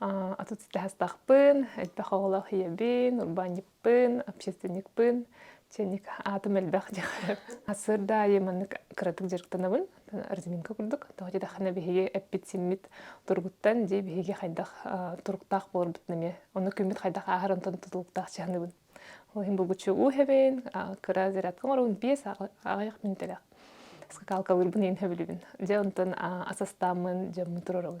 Атыт ситээхтахпын, элбэх оҕолоох ийэбин, урбаанньыппын, общественникпын, чэник аатым элбэх диэхэр. Сырда айы маннык кыратык дьарыктанабын, резинка курдук. Тоҕо диэтэххинэ биһиги эппит-симмит туругуттан дии биһиги хайдах туруктаах буоларбытын эмиэ, онно күммүт хайдах ааһар онтон тутулуктаах чыһаныбын. Ол иһин булгуччу уу эбэбин, кыра зарядка оҥоробун, биэс аҕыйах минутэлээх. Скакалкалыырбын иһин сөбүлүүбүн. Дьэ онтон ас астааммын дьоммун туруорабын.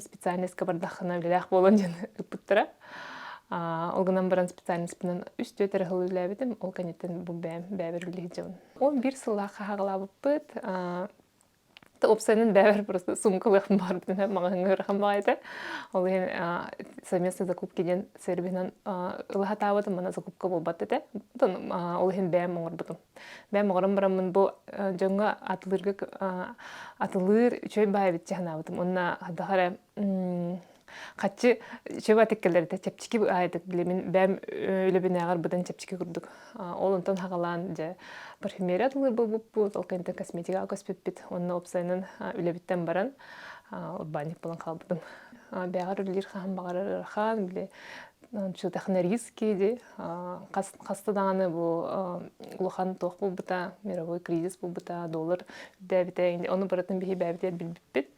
специальноска бардаххына үлэлээх буолан дьон ыппыттара ол гынан баран специальностпынан үс түөрт эрэ сыл үлэлээбитим ол кэнниттэн бу бэйэм бэйэбэр үлэ иһдьэбин он биир сыллаах хаһаҕалаабыппыт опцияның бэбэр просто сумкалыахпын баарбытын маҕаһыҥҥа ырахан баҕайыта ол иһин совместно закупки диэн сервиһинан ылыһатаабытым мана закупка буолбат этэ ол иһин бэйэм оҥорбутум Мен моҕорум бараммын бу дьоҥҥо атылыырга атылыыр үчүгэй баай эбитчи санаабытым. Онно хайдах эрэ хаччы чөп атыккаларыта чэпчэки аайытык билимин бэм үлэбинээҕэр быдан чэпчэки курдук. Ол онтон хагалаан дьэ парфюмерия атылыыр болбуппут, ол кэнтэн косметикаҕа көспүппүт. Онно опсайынан үлэбиттэн баран урбаанньык булан хаалбытым. Бэҕэр үлэлиир хаһан баҕарар ыарахан, били Ончу технарийский ди хаста дааны бу улахан туох булбута мировой кризис булбута доллар үрдээбитэ ону барытын биһи бээбитэ билбиппит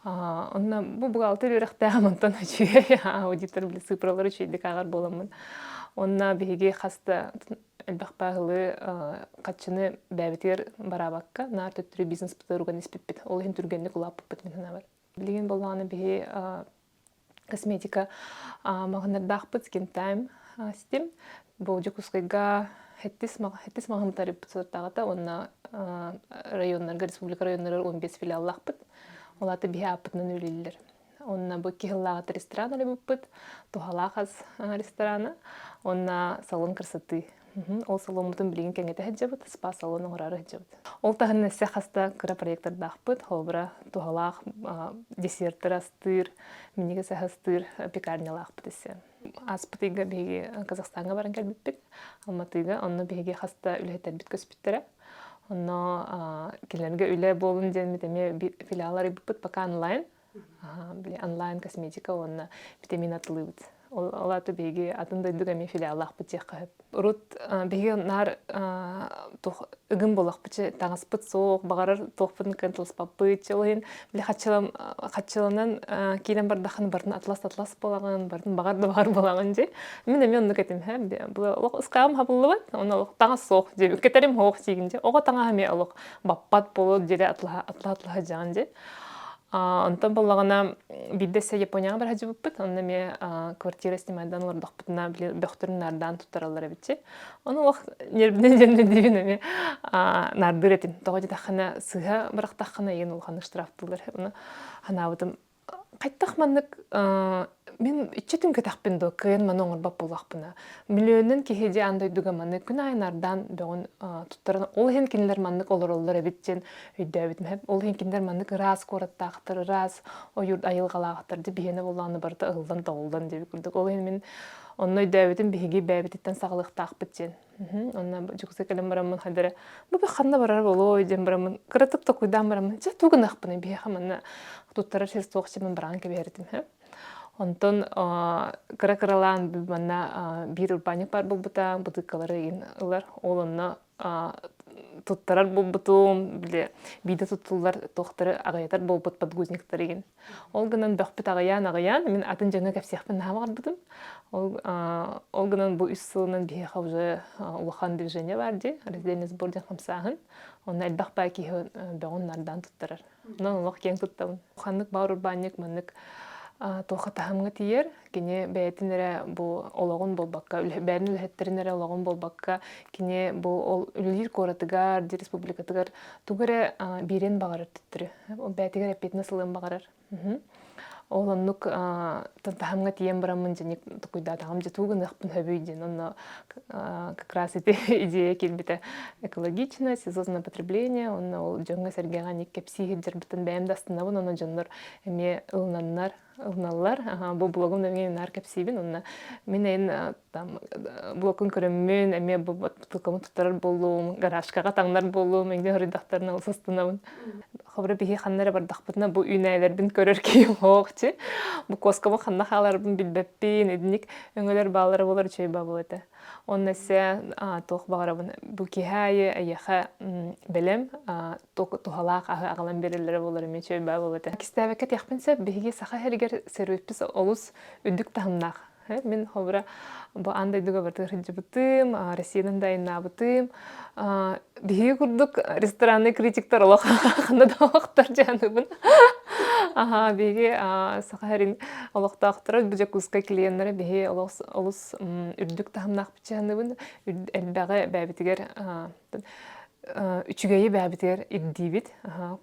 онно бу бухгалтер үөрэхтээҕим онтон үчүгэй аудитор били сыпыралар үчэйдик ааҕар буоламмын онно биһиги хаста элбэх пааһылы хаччыны бээбитигэр бараабакка наар төттөрү бизнес бытыруган испиппит ол иһин түргэнник улааппыппыт мин санаабар билигин боллааны биһи косметика маҕынардаахпыт скинтайм ситим бу Дьокуускайга хэттис хэттис маҕаһыынтарыппыт сотаҕата уонна районнарга республика районнарыгар он бес филиаллаахпыт улаата биһи ааппытынан үлэллэр онно бу икки сыллааҕыта ресторан арыйбыппыт туһалаах ас ресторана онно салон красоты Ол саломмутун билигин кэҥэтэ сылдьабыт, спа салон оҥороро сылдьабыт. Ол таһынан өссө хаста кыра проектардаахпыт, холобура, туһалаах десерттэр астыыр, минигис астыыр пекарнялаахпыт өссө. Аспытыйга биһиги Казахстаҥҥа баран кэлбиппит, Алматыга, онно биһиги хаста үлэһиттэрбит көспүттэрэ. Онно кинилэргэ үлэ буолун диэн эмиэ филиал арыйбыппыт пока онлайн. онлайн косметика уонна витамин атылыбыт ол аты биһиги атын дойдуга эмиэ филиаллаахпыт диэххэ сөп урут биһиги наар ыгым болохпычы таҥаспыт суох баҕарар туохпутун кытыласпаппыт чыл иһин били хаччылам хаччыланан киирэн бардаххын барын атлас атлас буолаҕын барын баҕар да баҕар буолаҕын дии мин эмиэ оннук этим һэ олох ыскаам хабыллыбат оны олох таҥас суох диэбит кэтэрим суох сиигин дьэ оҕо таҥас эмиэ олох баппат болот дьире атлаһа атлаһа атлаһа дьаҕан дьэ Онтон буллаҕына биирдэ сэ Японияҕа бара сылдьыбыппыт, онно эмиэ квартира снимайдан олордохпутуна били бөхтөрүн наардаан туттараллар эбитчи. Ону олох нервнай нервнэбин эмиэ наардыыр этим. Тоҕо диэтэххинэ сыыһа бырахтаххына ийэн улахан штрафтыыллар. Ону санаабытым хайдах маннык Мен үччүтүн көтөхпүн доо кыйын маны оңорбоп булахпына. Миллионнан киһи дьэ ан дойдуга маны күн айынардан бөҕүн туттаран ол иһин кинилэр маннык олороллор эбит диэн өйдөөбүт мэһэп. Ол иһин кинилэр маннык ыраас куораттаахтар, ыраас ойуур айылҕалаахтар дэ биһиэнэ буллааны барыта ыллан тоҕуллан диэбит курдук. Ол иһин мин онно өйдөөбүтүм биһиги бэйэбититтэн саҕалыахтаахпыт диэн. Онна дьукса кэлэн бараммын хадара бу ханна барар болой диэн бараммын кыратык токуйдаан бараммын дьэ тугу нахпын биһиэхэ манна туттарар сир суох симин быраан кэбиһэритим һэ онтон кыра кыралаан манна биир урбаанньык баар буолбута бытыыккалары ин ылар ол онно туттарар буолбутум бile биирдэ туттуллар туохтары аҕыйатар буолбут подгузниктары ин Ол гынан бөхпүт аҕыйаан-аҕыйаан, мин атын дьону кэпсиэхпин наһаа баҕарбытым. Ол, ол гынан бу үс сылынан биһиэхэ уже улахан движение баар дии, разделение сбор диэн хамсааһын. Онно элбэх баай киһи бөҕүн нардаан туттарар. Онон олох киэн туттабын. Ханнык баар урбаанньык маннык туоха таһымҥа тиийэр, кини бэйэтин эрэ бу олоҕун буолбакка бэйэтин үлэһиттэрин эрэ олоҕун буолбакка кини бу ол үлэлиир куоратыгар дии республикатыгар тугу эрэ биэриэн баҕарар төттөрү бэйэтигэр эппиэтинэс ылыан баҕарар ол оннук таһымҥа тиийэн бараммын дьиник тукуйдаатаҕым дьэ тугу гыныахпын сөбүй диэн онно как раз ити идея кэлбитэ экологичное сезонное потребление онно ол дьоҥҥо сэргэҕэ ник кэпсии сылдьарбытын бэйэм да астынабын онно дьоннор эмиэ ылынаннар ылналлар бу блогум нөҥүө наар кэпсиибин онно мин эн там блокун көрөммүн эмиэ бу тылкамын туттарар буолуум гаражкаҕа таҥнар буолуум эҥди хөрүйдахтарына ылса астынабын хобро биһи ханна эрэ бардахпытына бу үүнээлэрбин көрөр киһим хоохчи бу куоскабын ханна хааларбын билбэппин единик өҥөлөр баалара болар үчүгэй баабыл этэ Онна се туох баҕарабын бу киһи аайы эйиэхэ бэлэм туһалаах аһы аҕалан биэрэллэрэ буолар эмиэ үчүгэй баа бобото. Кистээбэккэ диэхпин сөп биһиги саха иһэригэр сөрүүппүс олус үрдүк таһымнаах. Мин холобура бу аан дойдуга бары сылдьыбытым, Россиядан да айаннаабытым. Биһиги курдук ресторанный критиктар олох ханна да олохтор дьааныбын. Аха биһиги саха иһэрин олохтоохторо бу Дьокуускай клиеннэрэ биһи олус олус үрдүк таһымнаах печеныбын элбэҕи бэбитигэр үчүгэйи бэбитигэр ирдиибит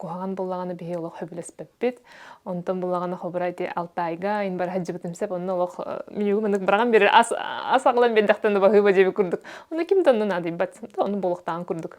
куһаҕан буллаҕына биһи олох хөбүлэспэппит онтон буллаҕына хобура ити алтайга ин бара сылдьыбытым сеп онно олох минюгу маннык быраҕан бир ас ас аҕылан биэрдэхтэн баһыыба дьэби курдук ону ким да онну наадыйбат ону булуктаан курдук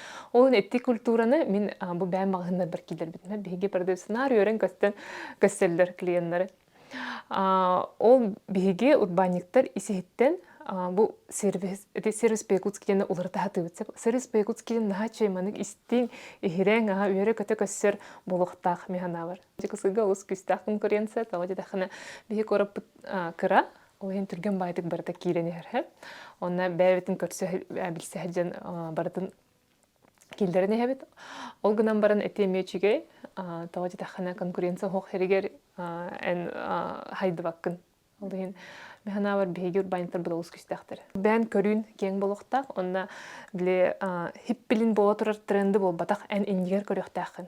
Ол эти культураны мин бу бэйэм маҕаһыыннарбар киирдэрбитим. Биһиги продукционар үөрэн көстөн көстөллөр клиеннары. Ол биһиги урбаанньыттар исиһиттэн бу сервис ити сервис Пекутскийаны уларыта сатыыбыт. Сервис Пекутскийын наһаа чейманык истиҥ, иһирэҥ, аһа үөрэ-көтө көссөр буолуохтаах механабар. Дьыкысыга олус күүстээх конкуренция, тоҕо диэтэххинэ биһи куораппыт кыра Ол иһин түргэн баайдык барыта киирэн иһэр. Онно бэйэбитин көрсө билсэ дьон барытын киллэрэн иһэбит. Ол гынан баран эти эмиэ үчүгэй. Тоҕо диэтэххинэ конкуренция суох хэригэр эн хайдыбаккын. Ол иһин механаабар биһиги урбаанньыттарбыт олус күүстээхтэр. Бэйэн көрүүн киэҥ буолуохтаах. Онно били хиппилин буола турар тренды буолбатах эн иннигэр көрүөхтээххин.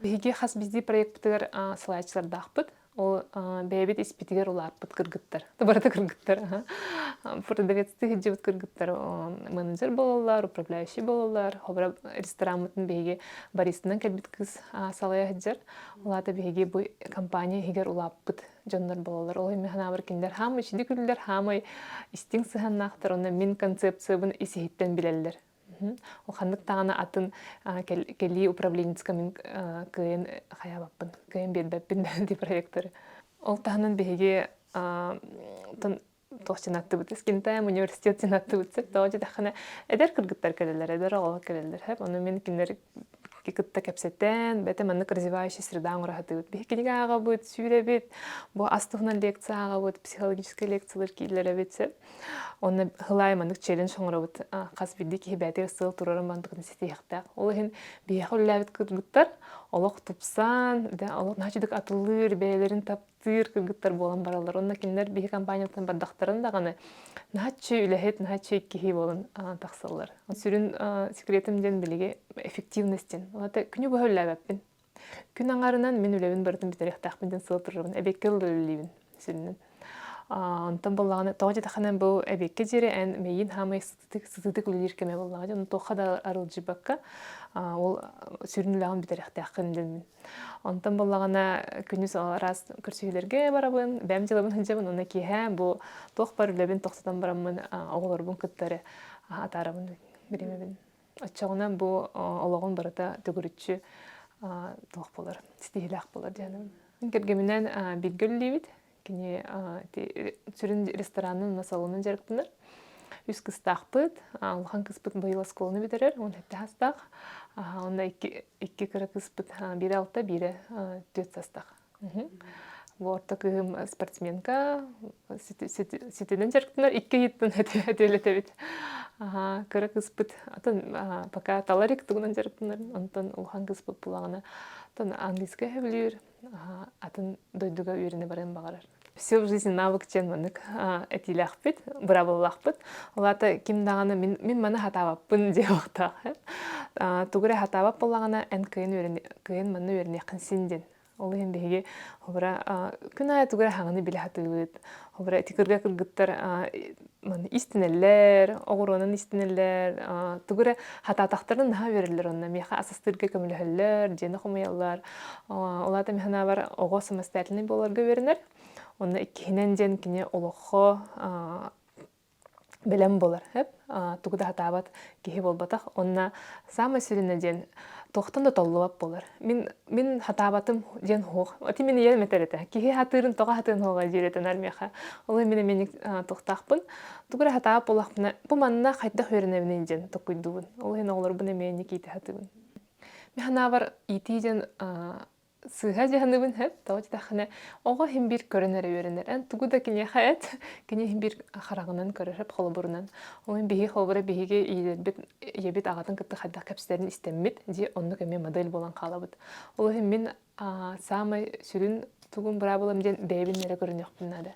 Биһиги хас биздии проектпытыгар салайааччылардаахпыт. Ол бэйэбит испитигэр улааппыт кыргыттар. Барыта кыргыттар. Продавецты сылдьыбыт кыргыттар менеджер буолаллар, управляющий буолаллар. Хобра рестораммытын биһиги баристынан кэлбит кыз салая сылдьар. Улаата биһиги бу компания иһигэр улааппыт дьоннор буолаллар. Ол эмэ санаабар кинилэр хаама ичиди күллэр, хаамай истиҥ сыһаннаахтар, онно мин концепциябын ис иһиттэн билэллэр. Ханнык даҕаны атын кэлии управленецкамын кыайан хайаабаппын, кыайан биэрбэппин дии проекторы. Ол таһынан биһиги туох сынаттыбыт скинтаем университет сынаттыбыт сеп тоҕо диэтэххинэ эдэр кыргыттар кэлэллэр эдэр оҕолор кэлэллэр хэп ону мин кинилэр кытта кэпсэтэн бэтэ маннык развивающая среда оҥораһытыбыт биһи кинигэ ааҕабыт сүүрэбит бу ас туһунан лекция ааҕабыт психологическай лекциялар кииллэрэбит сир онно хылаай маннык челлендж оҥоробут хас бирдии киһи бээтигэр сыл турарын бандыкын ситиэхтээх ол иһин биһиэхэ үллээбит кыргыттар олох тупсан олох наачыдык атыллыыр бэйэлэрин таптыыр сыыр кыргыттар буолан бараллар. Онно кинилэр биһи компаниятын бардахтарын даҕаны наһаччы үлэһит, наһаччы иккиһии буолан тахсаллар. Сүрүн секретим диэн билиги эффективность диэн. Олата күнү быһа үллээбэппин. Күн аҥарынан мин үлэбин барытын бүтэриэхтээхпин диэн сыла турарбын эбиэккэ ылла үлэлиибин сүрүнүн. Онтон буоллаҕына тоҕо диэтэххинэ бу эбиэккэ диэри эн мэйиин хаамай сытыытык үлэлиир кэме буоллаҕа дьон туохха да арылдьыбакка ол сүрүн үлэҕин бүтэриэхтээххин дэммин онтон буоллаҕына күнүс араас көрсүһүүлэргэ барабын бэйэм дьыалабын сылдьабын уонна киэһэ бу туох бар үлэбин тохтотон бараммын оҕолорбун кыттары атаарабын бириэмэбин оччоҕуна бу олоҕун барыта төгүрүччү туох болар ситиһиилээх болар дьаным кэргэминэн бииргэ үлэлиибит кини сүрүн ресторанын уонна салонун дьарыктанар үс кыстаахпыт улахан кыспыт быйыл оскуоланы бүтэрэр он сэттэ састаах онно икки икки кыра кыспыт биирэ алта биирэ түөрт састаах бу орто кыһым спортсменка ситинэн дьарыктанар икки ыйыттан өтөлөтөбүт кыра кыспыт атын пока таларик тугунан дьарыктанарын онтон улахан кыспыт булаҕына оттон английскай сөбүлүүр атын дойдуга үөрэнэ барыан баҕарар все в жизни навык диэн маннык этиилээхпит бырабыллаахпыт олата ким даҕаны мин мин маны хатаабаппын диэбэхтээх тугу эрэ хатаабат буоллаҕына эн кыайын кыайын манна үөрэниэххин син диэн ол иһин биһиги холобура күн аайы тугу эрэ хаҥаны билэ сатыыбыт холобура ити кырга кыргыттар маны истинэллэр, оҕуруонан истинэллэр, тугу эрэ хатаатахтарын наһаа үөрэллэр онно миэхэ асастыырга көмөлөһөллөр, дьиэни хомуйаллар. Улаата emi санаабар оҕо самостоятельнай буоларга үөрэнэр. Онно иккиһинэн диэн кини олоххо бэлэм болар. Төп тугу да сатаабат киһи буолбатах. Онно Самое сиринэ диэн тохтон да толлубат болар. Мин мин хатаабатым диэн хуох. Ати мин ийэм этер этэ. Киһи хатыырын тоҕа хатыырын хуоҕа диэретенар миэхэ. Ол мин эмиэ тохтаахпын. Тугура хатаабат болахпына бу манна хайдах үөрэнэбин диэн токуйдубун. Ол иһин оҕолорбун эмиэ никиите хатыыбын. Мен ханаабар иитии диэн Сыыһа дьаһаныбын хөп, тоҕо дитэххинэ, оҕо иһин биир көрөн эрэ үөрэнэр. Эн тугу да киниэхэ эт, кини иһин биир хараҕынан көрөр холобурунан. Ол иһин биһиги холобура биһиги ийэлэрбит, ийэбит аҕатын кытта хайдах кэпсэтэрин истэммит, дьэ оннук эмиэ модель буолан хаалабыт. Ол иһин мин аа, саамай сүрүн тугум быраабылам диэн бэйэбин эрэ көрүнүөхпүн наада.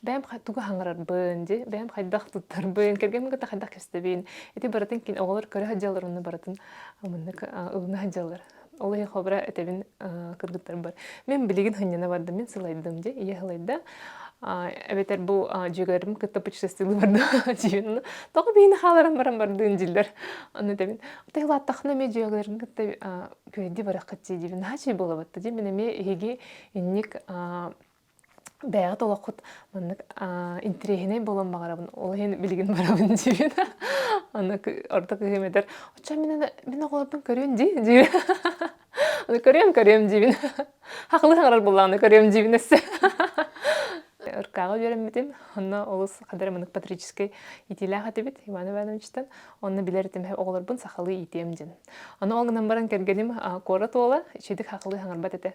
Бэйэм тугу хаҥарарбын, дьэ бэйэм хайдах туттарбын, кэргэммин кытта хайдах кэпсэтэбин, ити барытын кини оҕолор көрө сылдьаллар, онно барытын муннук ылына сылдьаллар. ол иһи хобра этэбин кыргыттарбар мен билигин хынньана бардым мин сылайдым дьэ ийэ сылайда эбэтэр бу дьүөгэлэрим кытта путешествиялыы бардым дьиэн тоҕо биини хааларан баран бардыын диллэр аны этэбин тыылааттахына эмиэ дьүөгэлэрим кытта күөдди бараххат дии диибин наачай буолабатта дии мин эмиэ иһиги инник бэйэҕит олоххут маннык интириэһинэй буолан баҕарабын ол иһин билигин барабын диир аны орто кыһыым этэр оччо мин мин оҕолорбун көрүөн дии диир аны көрүөм көрүөм диибин хахылы саҥарар буоллаҕына көрүөм диибин өссө ыркааҕы үөрэммитим онно олус хадары мыннык патрическай иитиилээх этибит иван ивановичтан онно билэр этим оҕолорбун сахалыы иитиэм диэн аны ол гынан баран кэргэним куорат уола ичэйдик хахылыы саҥарбат этэ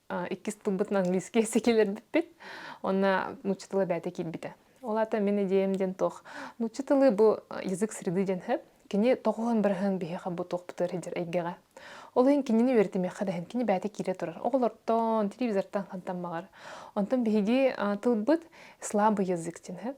иккис тылбытын английския сикилербиппит онно нучча тылы бэйэтэ киирбитэ ол аата мин идиэм диэн туох нучча тылы бу язык среды диэн сөп кини тоҕуһан быраһан биһиэхэ бу туохпутугар сылдьар эйгэҕэ ол иһин кинини үөрэтимиэххэ дэһэн кини бэйэтэ киирэ турар оҕолортон телевизортан хантан баҕар онтон биһиги тылбыт слабый язык диэн сөп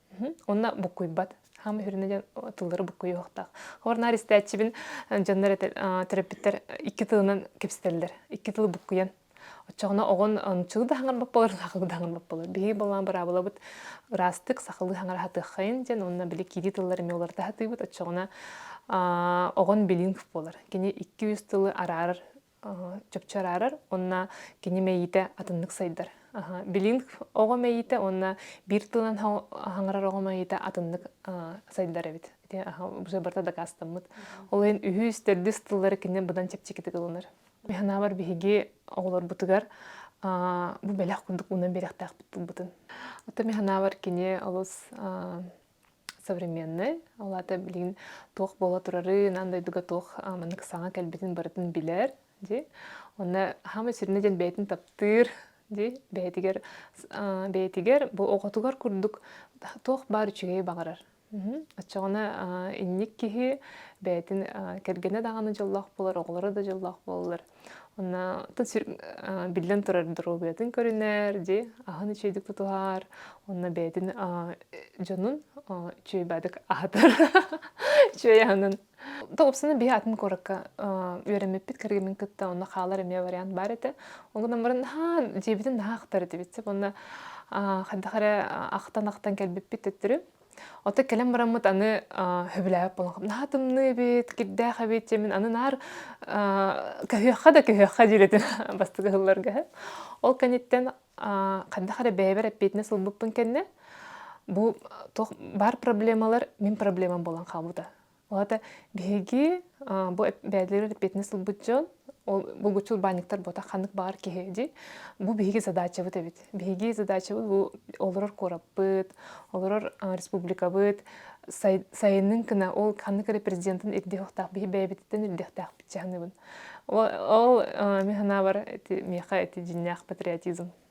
Онна буккуйбат. Хаама хүрүнэ диэн тыллары буккуйуохтаах. Хор наар истээччибин дьоннор төрөппүттэр икки тылынан кэпсэтэллэр. Икки тылы буккуйан. Оччоҕуна оҕон нуччулуу да хаҥар баппалар, сахалыы да хаҥар баппалар. Биһиги балаан быраабылабыт ыраастык сахалыы хаҥар аһатыаххайын диэн уонна били киирии тыллары эмиэ уларыта аһатыыбыт. Оччоҕуна оҕон билиҥг буолар. Кини икки-үс тылы араарар чыпчараарар уонна кини мэйиитэ атыннык сайдар. Билин оҕо мэйиитэ уонна биир тылынан хаҥарар оҕо мэйиитэ атыннык сайдар эбит. Бу барыта дакаастаммыт. Ол иһин үһүс, төрдүс тыллары кинини быдан чэпчэкитик ылынар. Механабар биһиги оҕолорбутугар бу бэлэх курдук уунан биэрэхтээхпит тылбытын. Оттон механабар кини олус современный ол аата билигин туох буола турарын ан дойдуга туох маннык саҥа кэлбитин барытын билэр ди онно хаама сүрүнэ диэн бэйэтин таптыыр ди бэйэтигэр бэйэтигэр бу оҕотугар курдук туох баар үчүгэй баҕарар оччоҕуна инник киһи бэйэтин кэргэнэ даҕаны дьоллоох буолар оҕолоро да дьоллоох буоллар Онна биллэн турар доруобуйатын көрүнэр, дьи, аһын үчүгэйдик тутуһар, онно бэйэтин дьонун үчүгэйдик аһатар үчүгэй аһынын. Тоҕупсуна биһи атын куоракка үөрэммиппит кэргэммин кытта онно хаалар эмиэ вариант баар этэ. Ол гынан баран наһаа дьиэбитин наһаа ахтар этибит. Онно хайдах эрэ ахтан-ахтан кэлбиппит төттөрү Ота кэлэн бараммыт аны хөбүлээбэт буолан наһаа тымныы эбит, кирдээх эбит, дьэ мин аны наар көһүөххэ да көһүөххэ диирэтим бастакы сылларга. Ол кэнниттэн ханнык эрэ бэйэбэр эппиэтинэс ылбыппын кэннэ бу туох баар проблемалар мин проблемам буолан хаалбыта. Уһата биһиги бу бэйэлэрин эппиэтинэс ылбыт дьон ол булгуччу урбаанньыктар буота ханнык баҕар киһи ди бу биһиги задачабыт эбит биһиги задачабыт бу олорор куораппыт олорор республикабыт сайынын кына ол ханнык эрэ президентин ирдиэхтаах биһи бэйэбититтэн ирдиэхтээхпит чаһыныбын ол мен санаабар миэхэ эти дьиннээх патриотизм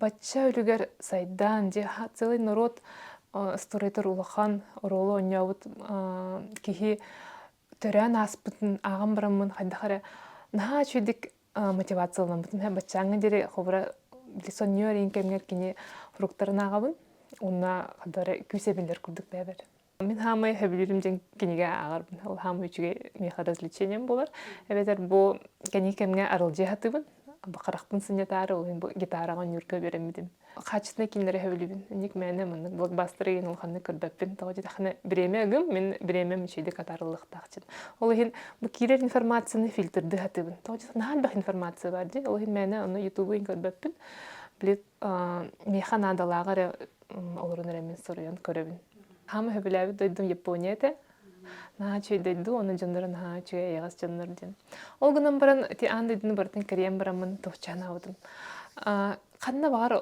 Бачча үлүгэр сайдан, дьэ целый норуот строитор улахан оруолу онньообут киһи төрөөн ааспытын ааҕан бараммын хайдах эрэ наһаа үчүгэйдик мотивацияланаммытым һэ баччааҥҥа диэри холобура сонньуо эрийин кэмигэр кини фруктарын ааҕабын уонна хадара күүс эбиллэр курдук бэйэбэр Мин хаамай хөбүлүүрүм дьин кинигэ ааҕарбын. Ол хаамай үчүгэй миэхэ развлечением болар. Эбэтэр бу кэнии кэмҥэ арылдьы сатыыбын. Харахпын сынньатаары ол иһин бу гитараҕа оонньуурга үөрэммитим. Хаачыстынай кииннэри хөбүлүүбүн. Инник мээнэ маннык блокбастары иһин улаханнык көрбөппүн. Тоҕо диэтэхинэ бириэмэ ыгым, мин бириэмэм үчэйдик атаарыллыахтаах диэн. Ол иһин бу киирэр информацияны фильтрдыы сатыыбын. Тоҕо диэтэхинэ наһаа элбэх информация баар дии. Ол иһин мээнэ ону ютубу иһин көрбөппүн. Били миэхэ наадалааҕы эрэ олорон эрэммин соруйан көрөбүн хаама сөбүлээбит дойдум япония этэ наһаа үчүгэй дойду оны дьонноро наһаа үчүгэй эйэҕэс дьоннор диэн ол гынан баран ити аан дойдуну барытын кэрийэн бараммын товчаан аабытым ханна баҕар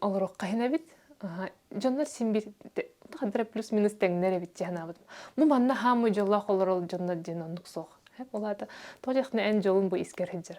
олоруохха иһин эбит дьоннор син биир хадара плюс минус тэҥнэр эбит дии санаабытым ну манна хаамыы дьоллоох олорор дьоннор диэн оннук суох ол аата тоҕо диэхтэринэ эн дьолуҥ бу искэр сылдьар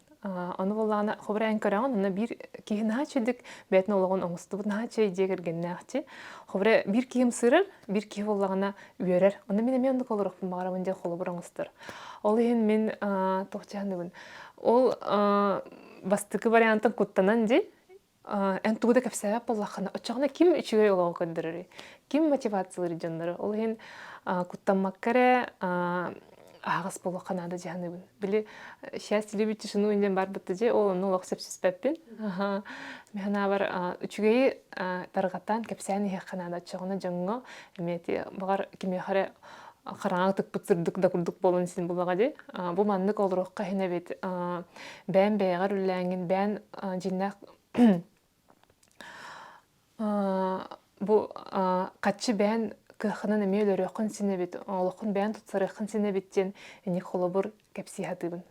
Ону буллаҕына хобурайан көрөҕүн, аны биир киһи наһаа чэдик, бэйэтин олоҕун оҥостубут наһаа чэй дьиэ кэргэннээхчи. Хобурай биир киһим сырар, биир киһи буллаҕына үөрэр. Аны мин эмиэ оннук олоруохпун баҕарабын диэн холобур оҥостор. Ол иһин мин туох дьаһаныбын. Ол бастакы вариантын куттанан дии, Эн тугу да кэпсээбэт буоллаххына, оччоҕуна ким үчүгэй олоҕу көрдөрөрүй? Ким мотивациялыыр дьоннору? Ол иһин куттаммакка эрэ аһаҕас буолуохха наада дьаһаныбын. Били «Счастье любит тишину» диэн барбыт дьэ, ол онно олох сөпсүспэппин. Мен ханаабар үчүгэйи тарҕатан, кэпсээн иһиэххэ наада. Оччоҕуна дьоҥҥо эмиэ баҕар кимиэхэ эрэ хараҥа ытыкпыт сырдык да курдук буолан син булаҕа ди бу маннык олоруохха иһин эбит бэйэм бэйэҕэр үллээҥҥин бэйэн дьиннээх бу хаччы бэйэн кыаххынан эмиэ өлөрүөххүн син эбит олоххун бэйэн тутсарыаххын син эбит диэн эник холобур кэпсии сатыыбын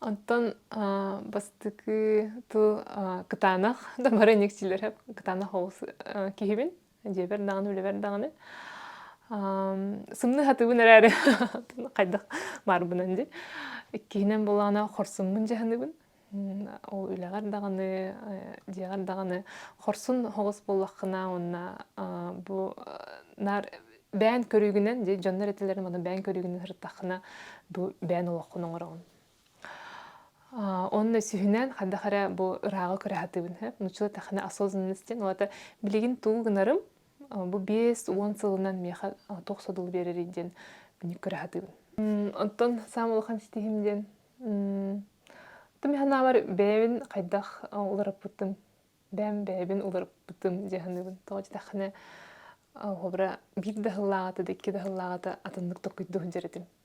Онтон бастакы тыл кытаанах да бары эниксилэр кытаанах оҕус киһибин дьиэбэр даҕаны үлэбэр даҕаны сымныһатыбын эрээри хайдах баарбынан дии иккиһинэн буоллаҕына хорсуммун дьаһаныбын ол үлэҕэр даҕаны дьиэҕэр даҕаны хорсун хоҕус буоллаххына уонна бу наар бэйэн көрүүгүнэн дьоннор этэллэрин манан бэйэн көрүүгүнэн сырыттаххына бу бэйэн олоххун оҥороҕун Онно сүһүнэн хадах эрэ бу ырааҕы көрө сатыыбын һэ нучула тахана осознанность диэн олата билигин тугу гынарым бу биэс уон сылынан миэхэ туох содулу биэрэрий диэн мүнүк көрө сатыыбын оттон саам улахан ситиһим диэн тым санаабар бэйэбин хайдах уларыппытым бэйэм бэйэбин уларыппытым дии саныыбын тоҕо диэтэххинэ хоһобура биир да сыллааҕыта да икки да сыллааҕыта атыннык толкуйдуу сылдьар этим